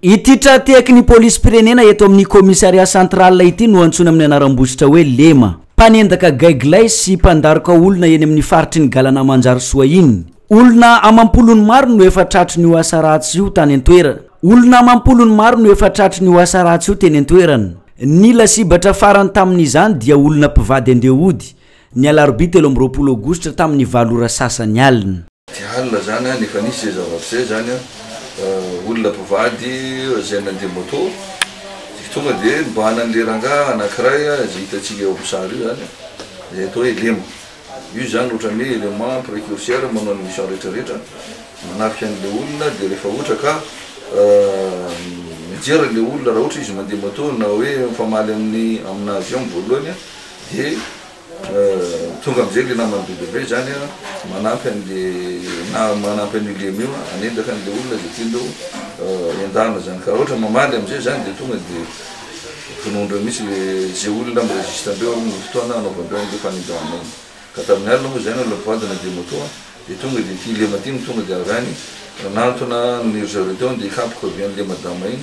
Ity tra-tehaky ny polisim-pirenena eto amin'ny Commissariat central ity no antsoina amin'ny anaram-bositra hoe Lema. Mpanendaka gaigilahy sy mpandaroka olona eny amin'ny faritry ny Galana Manjarisoa iny. Olona amam-polony maro no efa tratry ny ho asa ratsy io tany an-toerana. Olona amam-polony maro no efa tratry ny ho asa ratsy io teny an-toerana. Ny lasibatra farany tamin'izany dia olona mpivady andeha hody. ny alarobia telo amby roapolo aogositra tamin'ny valo ora sasany alina. Tsy halina izany an, efa nisy izay zava-misy izay izany an, olona mpivady izay nandeha moto, dia tonga dia nibahana an'ilay rangahy anankiray izay hitantsika eo amin'ny sary io izany an, izay atao hoe lema, io izany ohatran'ny hoe élément précurseur manao ny mission rehetra rehetra, manafika an'ilay olona, dia rehefa ohatra ka mijery an'ilay olona raha ohatra izy mandeha moto na hoe mifamaly amin'ny amin'azy eo amin'ny voalohany an, Dia tonga amin'izay ilay naman'i WW izany an, manampy an'ilay, na manampy an'io Lemy io an, hanendaka an'ilay olona izay tian-dreo endahana izany. Ka raha ohatra mamaly amin'izay izany dia tonga dia vonoin-dreo mihintsy ilay, izay olona mi-resiste an'ireo amin'ny fotoana hanaovan-dreo an'ilay fanendahana iny. Ka tamin'ny alina moa izany olona mpivadina dia moto an, dia tonga dia ity Lema ity no tonga dia avy any nanantona an-dry zareo teo an, dia hikapoka avy an'ilay madama iny.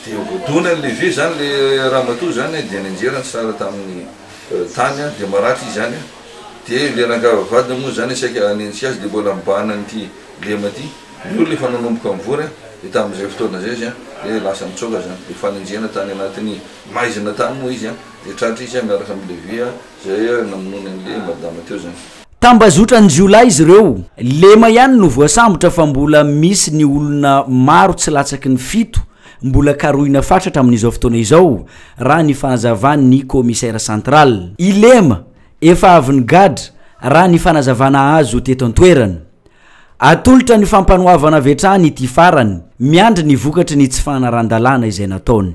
Dia voadona ny lehibe izany ilay ramatoa izany an, dia nianjera ny sary tamin'ny tany an, dia maratra izy any an, dia ilay rangahy vadiny moa izany saika hanenjika azy dia mbola mibahana an'ity lema ity, ny olona efa nanomboka mivory an, dia tamin'izay fotoana izay izy an, dia lasa nitsoaka izany, dia fanenjehana tany anatin'ny maizina tany moa izy an, dia tratra izy an miaraka amin'ny lehibe izay namonoany an'ilay madama teo izany. Tambazotran-jiolahy izy ireo. Lema ihany no voasambotra fa mbola misy ny olona maro tsy latsaky ny fito mbola karohina fatratra amin'izao fotoana izao, raha ny fahazavan'ny Commissaire central. I Lema efa avy nigadra, raha ny fanazavana azo teto an-toerana. Atolotra ny fampanoavana avy hatrany ity farany, miandry ny vokatry ny tsy fanarahan-dalàna izay nataony.